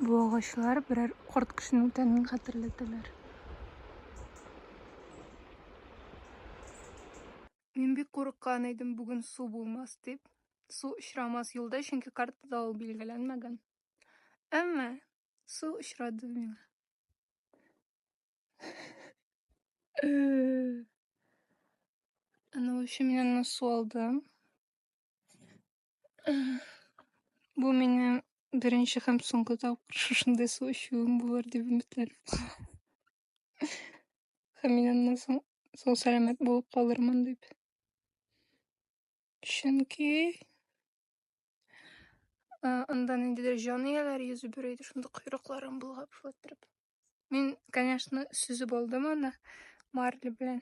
Бу агачлар берәр карт кешенең тәнен хәтерләтәләр. Мин бик курыккан идем, бүген су булмас дип. Су очрамас юлда, чөнки картада ул билгеләнмәгән. Әмма су очрады миңа. Аның өчен мин аны су алдым. Бу минем беренче һәм соңгы тапкыр шушындый су эчүем булыр дип өметләнәм. Һәм мин аннан соң сау сәламәт булып калырмын дип. Чөнки э, анда ниндидер җан ияләре йөзеп йөри иде, шунда койрыкларын болгап шулай торып. Мин, конечно, сөзеп алдым аны марли белән.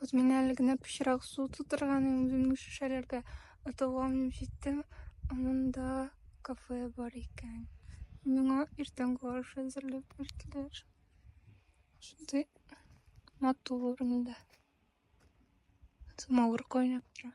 Вот мин әле генә пычрак су тутырган үземнең шешәләргә атуга менеп җиттем. Монда кафе бар икән. Миңа иртәнге аш әзерләп бирделәр. Шундый матур монда. Самавыр кайнап тора.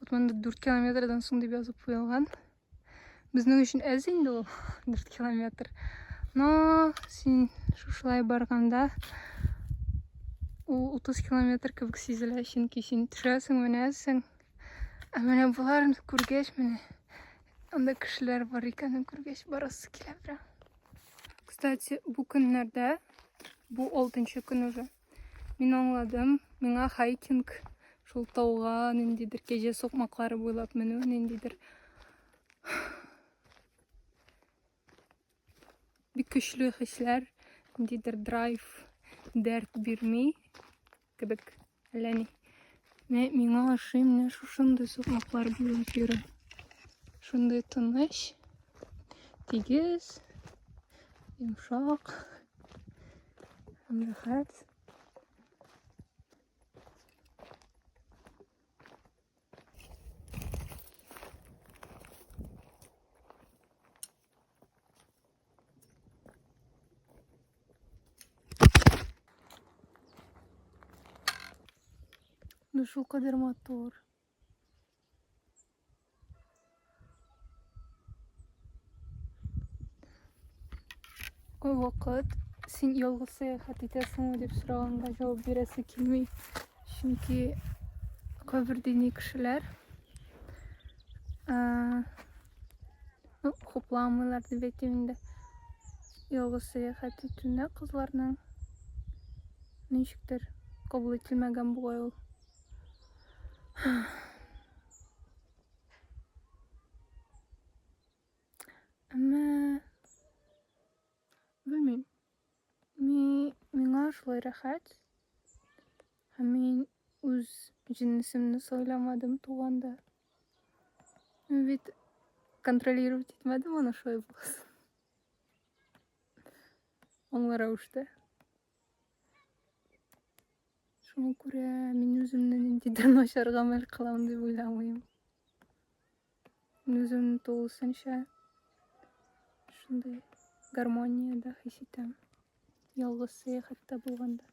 Вот монда 4 километрдан соң дип язып куелган. Безнең өчен әз инде ул 4 километр. Но син шушылай барганда ул 30 километр кебек сизелә, чөнки син төшәсең, менәсең. Ә менә боларны күргәч, менә анда кешеләр бар икәнен күргәч, барасы килә прям. Кстати, бу көннәрдә, бу 6 көн уже, Мин аңладым. Миңа хайкинг шул тауга ниндидер кәҗә сукмаклары буйлап менү, ниндидер бик көчле хисләр, ниндидер драйв, дәрт бирми кебек. Әллә ни. Мә, миңа ашый менә шушындый сукмаклар буйлап йөрү. Шундый тыныч, тигез, йомшак. Мрахець. Душу кадерматор. Ой, вакыт, син ялгыз сәяхәт итәсеңме дип сораганда җавап бирәсе килми. Чөнки кайбер дини кешеләр э, ну, хупламыйлар дип әйтим инде. Ялгыз сәяхәт итүне кызларның ничектер кабул ителмәгән бугай ул. Әмма белмим. Ми миңа шулай рәхәт. Һәм мин үз җиннисемне сайламадым туганда. Мин бит контролировать итмәдем аны шулай булсын. Аңлар рәвештә. Шуңа күрә мин үземне ниндидер начар гамәл кылам дип уйламыйм. Мин үземне тулысынча шундый гармониядә хис итәм. Ялгыз сәяхәттә булганда.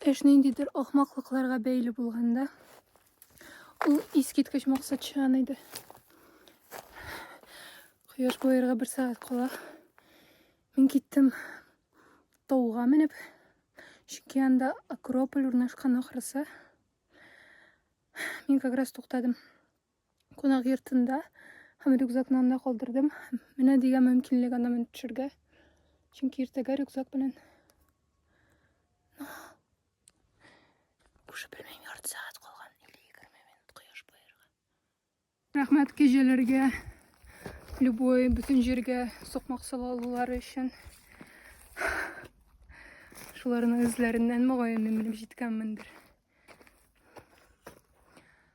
Эш ниндидер ахмаклыкларга бәйле булганда, ул искиткеч максатчан иде. Кояш боерга бер сәгать кала. Мин киттем тауга менеп, чөнки анда Акрополь урнашкан ахрысы. Мин как раз туктадым. кунак йортында һәм рюкзакны анда калдырдым. Менә дигән мөмкинлек анда менеп төшергә. Чөнки иртәгә рюкзак белән Уже белмим, ярты сәгать калган, 50-20 минут кояш баерга. Рәхмәт кәҗәләргә, любой бөтен җиргә сукмак сала алулары өчен. Шуларның эзләреннән мөгаен мин менеп җиткәнмендер.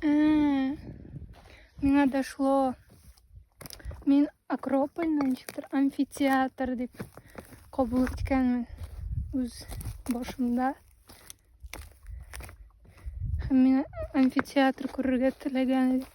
Э, миңа дошло. Мин Акропольны ничектер амфитеатр дип кабул иткәнмен үз башымда. Һәм мин амфитеатр күрергә теләгән идем.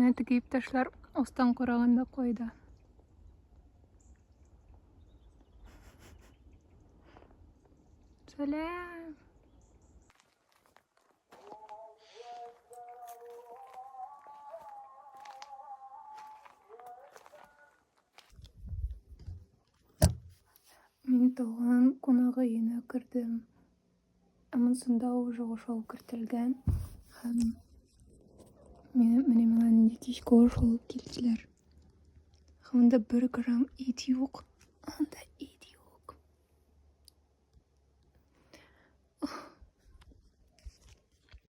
Әнә теге иптәшләр астан караганда кайда. Сәлам! Мин туган кунагы өенә кердем. Ә монсында ул уже ошол кертелгән. Һәм менә миңа нинди кичке аш алып килделәр. Һәм анда бер грамм ит юк. Анда ит юк.